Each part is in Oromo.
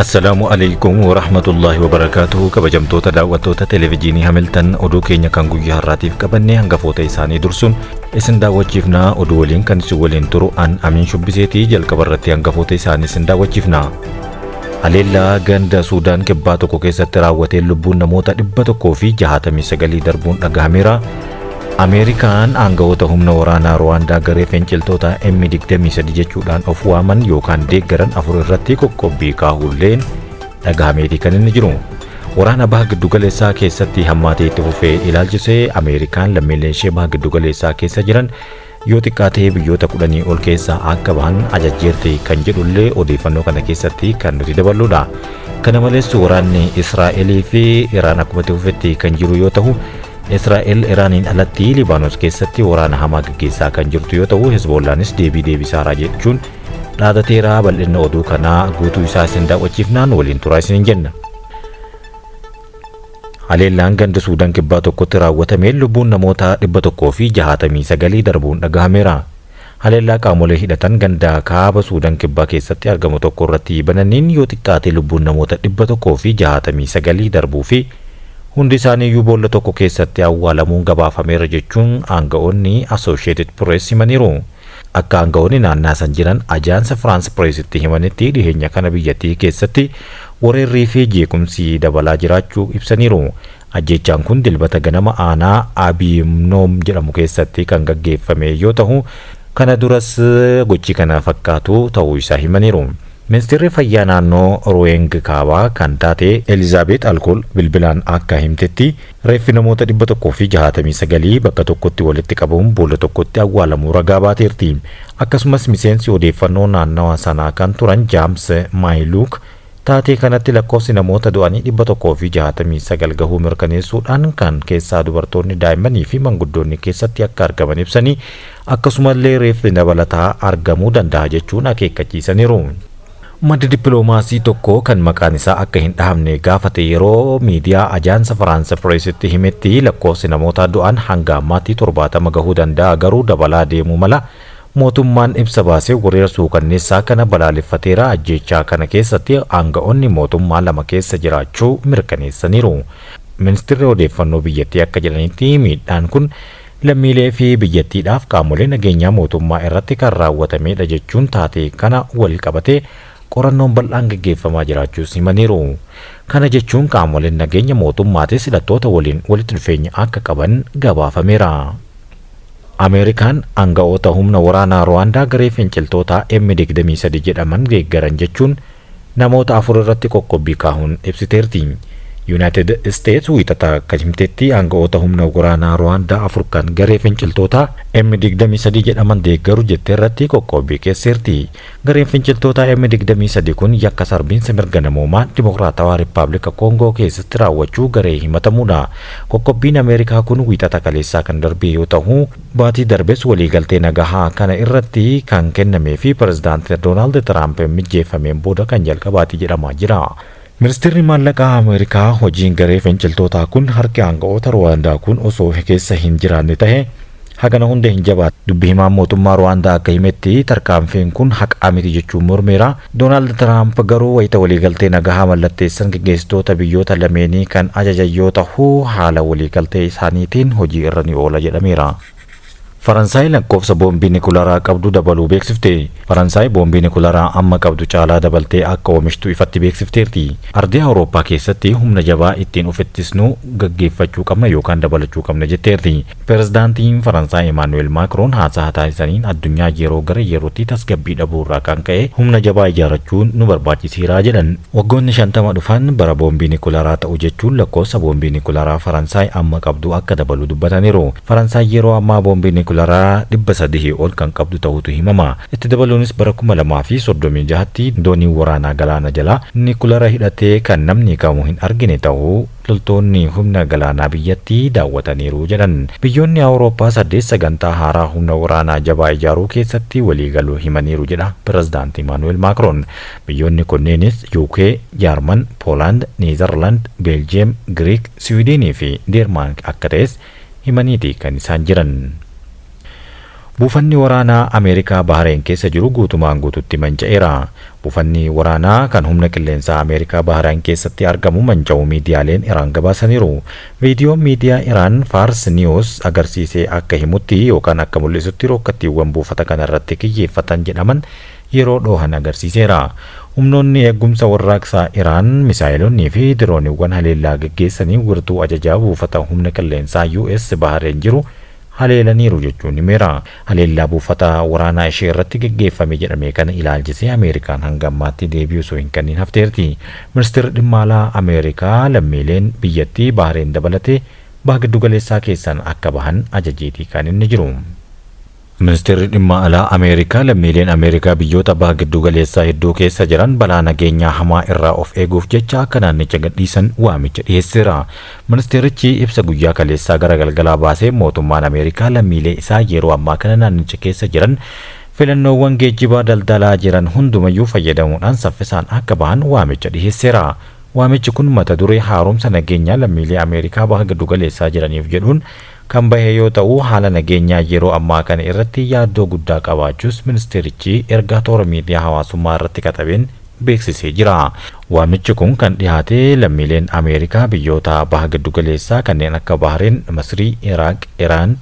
Assalaamu alaikum warahmatullaahi wabarakaatuhu kabajamtoota daawwattoota televijiinii Hamiltan oduu keenya kan guyyaa har'aatiif qabannee hangafoota isaanii dursuun isin daawwachiifnaa oduu waliin kan isin waliin turu an amiin shubbiseetii jalqaba irratti hangafoota isaanii isin daawwachiifnaa. Haleellaa ganda Suudaan kibbaa tokko keessatti raawwateen lubbuun namoota 169 darbuun dhagahameera. Ameerikaan aangawoota humna waraanaa Ruwaandaa garee finciltoota M23 jechuudhaan of waaman yookaan deeggaran afur irratti qoqqobbii kaahuulleen dhagahameetii kan inni jiru. Waraana baha giddugaleessaa keessatti hammaatee itti fufee ilaalchisee Ameerikaan lammiileen ishee baha giddugaleessaa keessa jiran yoo xiqqaate biyyoota kudhanii ol keessaa akka bahan ajajjeerti kan jedhullee odeeffannoo kana keessatti kan nuti daballuudha. Kana malees waraanni Israa'elii fi Iraan akkuma itti fufetti kan jiru yoo ta'u, Israa'el Iraaniin alatti Libaanos keessatti waraana hamaa gaggeessaa kan jirtu yoo ta'u, Hezboollaanis deebii deebisaaraa jechuun dhaadateeraa bal'inna oduu kanaa guutuu isaa isin daawwachiifnaan waliin turaa isiniin jenna. Haleellaan ganda Suudan Kibbaa tokkotti raawwatameen lubbuun namoota 169 darbuun dhagahameera. Haleellaa qaamolee hidhatan ganda kaaba Suudan Kibbaa keessatti argamu tokko irratti bananiin yoo xiqqaate lubbuun namoota 169 darbuu fi hundi isaanii iyyuu boolla tokko keessatti awwaalamuun gabaafameera jechuun aanga'oonni Asoosheetid Pirees himaniiru. Akka aanga'oonni naannaa san jiran Ajaansa Firaans Pireesitti himanitti dhiheenya kana biyyattii keessatti wareerrii fi jeequmsi dabalaa jiraachuu ibsaniiru. Ajjeechaan kun Dilbata ganama aanaa Abiimnoom jedhamu keessatti kan gaggeeffame yoo tahu, kana duras gochi kana fakkaatu tahuu isaa himaniiru. Ministirri Fayyaa Naannoo Ruweeng Kaabaa kan taate Elizaabeet Alkool bilbilaan akka himtetti, reeffi namoota 169 bakka tokkotti walitti qabuun boolla tokkotti awwaalamuu ragaa baateerti. Akkasumas miseensi odeeffannoo naannawa sanaa kan turan Jaams Maayiluuk taatee kanatti lakkoofsi namoota du'anii 169 gahuu mirkaneessuudhaan kan keessaa dubartoonni, daa'immanii fi manguddoonni keessatti akka argaman ibsanii, Akkasumallee reeffi dabalataa argamuu danda'a jechuun akeekkachiisaniiru. Maddi dippiloomaasii tokko kan maqaan isaa akka hin dhahamne gaafate yeroo miidiyaa Ajaansa Faraansa Pireesitti himetti lakkoofsi namootaa du'an hanga ammaatti 70 gahuu danda'a garuu dabalaa deemuu mala. Mootummaan ibsa baaseen weerara suukanneessaa kana balaaleffateera, ajjeechaa kana keessatti aanga'oonni mootummaa lama keessa jiraachuu mirkaneessaniiru. Ministirri Odeeffannoo biyyattii akka jedhanitti miidhaan kun lammiilee fi biyyattiidhaaf qaamolee nageenyaa mootummaa irratti kan raawwatameedha jechuun taatee kana wal qabatee qorannoon bal'aan gaggeeffamaa jiraachuus himaniiru. Kana jechuun qaamoleen nageenya mootummaatis hidhattoota waliin walitti dhufeenya akka qaban gabaafameera. Ameerikaan aanga'oota humna waraanaa Ruwaandaa garee finciltootaa M23 jedhaman deeggaran jechuun namoota afur irratti qoqqobbii kaahun ibsiteerti. Yunaayitid Isteets Wiixata akka himtetti aanga'oota humna wraanaa Ruwaandaa afur kan garee finciltootaa M23 jedhaman deeggaru jette irratti qoqqoobbii keesseerti. Gareen finciltootaa M23 kun yakka sarbiinsa mirga namoomaa Dimokiraatawaa Rippaablika Koongoo keessatti raawwachuu garee himatamuudha. Qoqqobbiin Ameerikaa kun Wiixata kaleessaa kan darbee yoo tahu, Baatii darbes waliigaltee nagahaa kana irratti kan kennamee fi Pirezidaant Doonaald Tiraamp mijjeeffameen booda kan jalqabaati jedhamaa jira. Ministeerri Maallaqaa Ameerikaa hojiin garee finciltootaa kun harki aanga'oota Ruwaandaa kun osoo keessa hin jiraanne tahe hagana hunda hin jabaatu. Dubbi himaan mootummaa Ruwaandaa akka himetti tarkaanfiin kun haqaa miti jechuun mormeera. Doonaald Tiraamp garuu wayita waliigaltee nagahaa mallatteessan geggeessitoota biyyoota lameenii kan ajajan yoo tahu, haala waliigaltee isaaniitiin hojii irra ni oola jedhameera. Faransaay lakkoofsa boombii nikularaa qabdu dabaluu beeksifte. Faransaay boombii nikularaa amma qabdu caalaa dabaltee akka oomishtu ifatti beeksifteerti. Ardii Awurooppaa keessatti humna jabaa ittiin of ittisnu gaggeeffachuu qabna yookaan dabalachuu qabna jetteerti. Pirezidaantiin Faransaay Emaanu'eel Maakroon haasaha taasisaniin addunyaan yeroo gara yerootti tasgabbii dhabuu irraa kan ka'e humna jabaa ijaarachuun nu barbaachiseera jedhan. Waggoonni 50 dhufan bara boombii nikularaa ta'u jechuun lakkoofsa boombii nikularaa Faransaay amma qabdu akka dabalu dubbataniiru. Faransaay yeroo ammaa boombii nikularaa 300 ol kan qabdu ta'uutu himama. Itti dabaluunis bara 2036tti dooniin waraanaa galaana jalaa nikulara hidhatee kan namni kamuu hin argine ta'uu Loltoonni humna galaanaa biyyattii daawwataniiru jedhan. Biyyoonni Awurooppaa saddeet sagantaa haaraa humna waraanaa jabaa ijaaruu keessatti waliigaluu himaniiru jedha Pirezidaanti Imaanu'eel Maakroon. Biyyoonni kunneenis UK, Jaarman, Poolaand, Neezarlaand, Beeljiyeem, Giriik, Siwiidiinii fi Deermaank akka ta'es himaniiti kan isaan jiran. Buufanni waraanaa Ameerikaa Bahareen keessa jiru guutumaan guututti manca'eera. Buufanni waraanaa kan humna qilleensaa Ameerikaa Bahareen keessatti argamu manca'uu miidiyaaleen Iraan gabaasaniiru. Viidiyoon miidiyaa Iraan Faars Niwus agarsiise akka himutti yookaan akka mul'isutti rookkattiiwwan buufata kana irratti kiyyeeffatan jedhaman yeroo dhoohan agarsiiseera. Humnoonni Eegumsa Warraaqsaa Iraan misaa'eloonnii fi dirooniiwwan haleellaa geggeessanii wirtuu ajajaa buufata humna qilleensaa US Bahareen jiru haleelaniiru jechuun himeera. Haleellaa buufata waraanaa ishee irratti geggeeffame jedhame kana ilaalchisee Ameerikaan hanga ammaatti deebii osoo hin kanniin hafteerti. Ministeerri Dhimma Alaa Ameerikaa lammiileen biyyattii Bahreen dabalatee Baha Giddugaleessaa keessaan akka bahan ajajeetii kan inni jiru. Ministeerri Dhimma Alaa Ameerikaa lammiileen Ameerikaa biyyoota Baha Giddugaleessaa hedduu keessa jiran balaa nageenyaa hamaa irraa of eeguuf jecha akka naannicha gadhiisan waamicha dhiheesseera. Ministeerichi ibsa guyyaa kaleessaa gara galgalaa baaseen mootummaan Ameerikaa lammiilee isaa yeroo ammaa kana naannicha keessa jiran filannoowwan geejjibaa daldalaa jiran hundumayyuu fayyadamuudhaan saffisaan akka bahan waamicha dhiheesseera. Waamichi kun mata duree Haaromsa nageenyaa lammiilee Ameerikaa baha giddugaleessaa jiraniif jedhuun kan bahe yoo ta'u, haala nageenyaa yeroo ammaa kana irratti yaaddoo guddaa qabaachuus ministeerichi ergaa toora miidiyaa hawaasummaa irratti katabeen beeksisee jira. Waamichi kun kan dhihaate lammiileen Ameerikaa biyyoota Baha Giddugaleessaa kanneen akka Bahreen, Masrii, Iraaq, Iraan,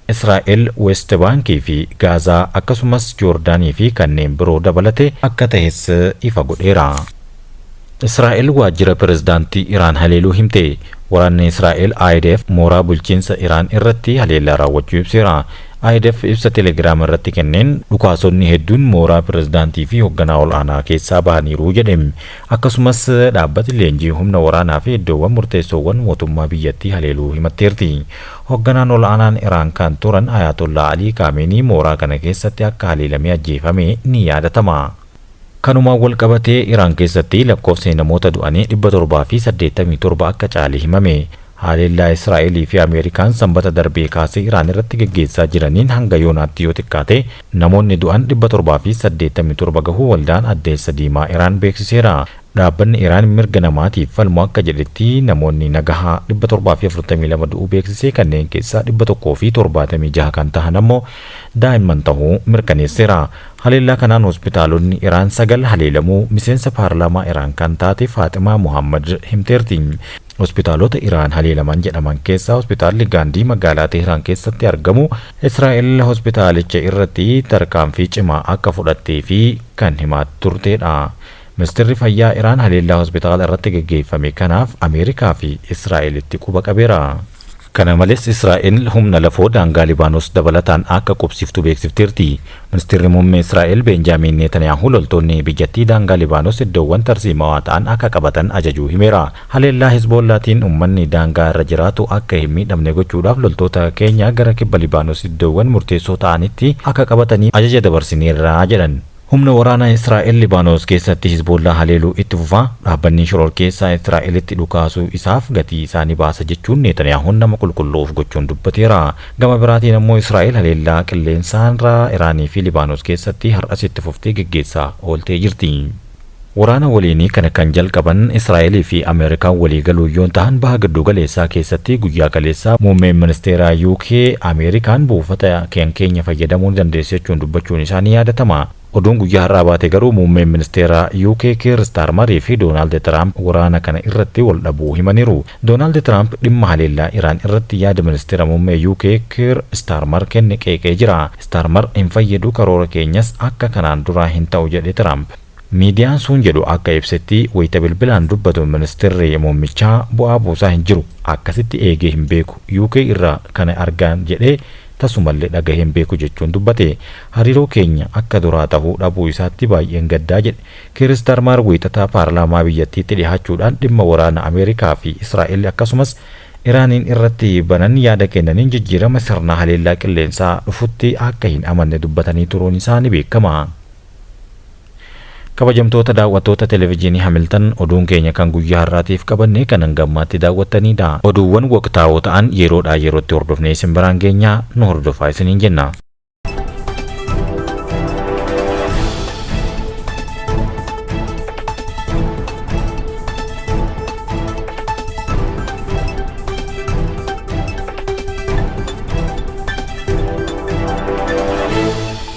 Israa'el, Weest Baankii fi Gaazaa akkasumas Joordaanii fi kanneen biroo dabalate akka tahes ifa godheera. Israa'el waajjira pirezidaantii Iraan haleeluu himte. Waraanni Israa'el IDF mooraa bulchiinsa Iraan irratti haleellaa raawwachuu ibseera. IDF ibsa Telegram irratti kenneen dhukaasonni hedduun mooraa pirezidaantii fi hogganaa ol'aanaa keessaa bahaniiru jedhe. Akkasumas dhaabbati leenjii humna waraanaa fi iddoowwan murteessoowwan mootummaa biyyattii haleeluu himatteerti. Hogganaan ol'aanaan Iraan kan turan Ayaatollaa Alii Kaameenii mooraa kana keessatti akka haleelamee ajjeefame ni yaadatama. Kanumaan wal qabatee Iraan keessatti lakkoofsni namoota du'anii 787 akka caale himame. Haleellaa Israa'elii fi Ameerikaan Sambata darbee kaasee Iraan irratti geggeessaa jiraniin hanga yoonaatti yoo xiqqaate namoonni du'an 787 gahuu Waldaan Addeessa Diimaa Iraan beeksiseera. Dhaabbanni Iraan mirga namaatiif falmu akka jedhetti namoonni nagahaa 742 du'uu beeksisee kanneen keessaa 176 kan tahan ammoo daa'imman tahuu mirkaneesseera. Haleellaa kanaan hospitaalonni Iraan sagal haleelamuu miseensa paarlaamaa Iraan kan taate Faaximaa Mohaammad himteerti. Hospitaalota Iraan haleelaman jedhaman keessaa hospitaalli Gaandii magaalaa Teehraan keessatti argamu Israa'el hospitaalicha irratti tarkaanfii cimaa akka fudhattee fi kan himaa turteedha. Ministeerri Fayyaa Iraan haleellaa hospitaala irratti gaggeeffame kanaaf Ameerikaa fi Israa'elitti quba qabeera. Kana malees Israa'el humna lafoo daangaa Libaanos dabalataan akka qubsiiftu beeksifteerti. Ministirri Muummee Israa'el Beenjaamiin Neetaniyaahu loltoonni biyyattii daangaa Libaanos iddoowwan tarsiimawaa ta'an akka qabatan ajajuu himeera. Haleellaa Hezboollaatiin ummanni daangaa irra jiraatu akka hin miidhamne gochuudhaaf loltoota keenya gara kibba Libaanos iddoowwan murteessoo ta'anitti akka qabataniif ajaja dabarsineerra jedhan. Humna waraanaa Israa'el Libaanos keessatti Hizboollaa haleeluu itti fufa, dhaabbanni shororkeessaa Israa'elitti dhukaasuu isaaf gatii isaa ni baasa jechuun Neetaniyaahuun nama qulqulluu of gochuun dubbateera. Gama biraatiin ammoo Israa'el haleellaa qilleensaarraa Iraanii fi Libaanos keessatti har'as itti fuftee geggeessaa ooltee jirti. Waraana waliinii kana kan jalqaban Israa'elii fi Ameerikaan walii galuun yoo tahan Baha Gidduu Galeessaa keessatti guyyaa kaleessaa Muummeen Ministeeraa UK Ameerikaan buufata kan keenya fayyadamuu ni dandeessi jechuun dubbachuun isaa ni yaadatama. Oduun guyyaa har'aa baate garuu Muummeen Ministeeraa UK Kiir Istaarmarii fi Doonaald Tiraamp waraana kana irratti wal dhabuu himaniiru. Doonaald Tiraamp dhimma haleellaa Iraan irratti yaada Ministeera Muummee UK Kiir Istaarmar kenne qeeqee jira. Istaarmar hin fayyadu karoora keenyas akka kanaan duraa hin ta'u jedhe Tiraamp. Miidiyaan suun jedhu akka ibsetti wayita bilbilaan dubbatu ministirri muummichaa bu'aa buusaa hin jiru, akkasitti eegee hin beeku, UK irraa kana argaan jedhee tasumallee dhagahee hin beeku jechuun dubbate. Hariiroo keenya akka duraa tahuu dhabuu isaatti baay'een gaddaa jedhe. Kiir Istaarmaar Wiixata paarlaamaa biyyattiitti dhihaachuudhaan dhimma waraana Ameerikaa fi Israa'el akkasumas Iraaniin irratti banan yaada kennaniin jijjiirama sirna haleellaa qilleensaa dhufutti akka hin amanne dubbatanii turuun isaa ni beekama. Kabajamtoota daawwattoota Televijiinii Hamiltan, oduun keenya kan guyyaa har'aatiif qabanne kan hanga ammaatti daawwattaniidha. Oduuwwan waqtaawoo ta'an yeroodhaa yerootti hordofnee isin biraan geenya, nu hordofaa isiniin jenna.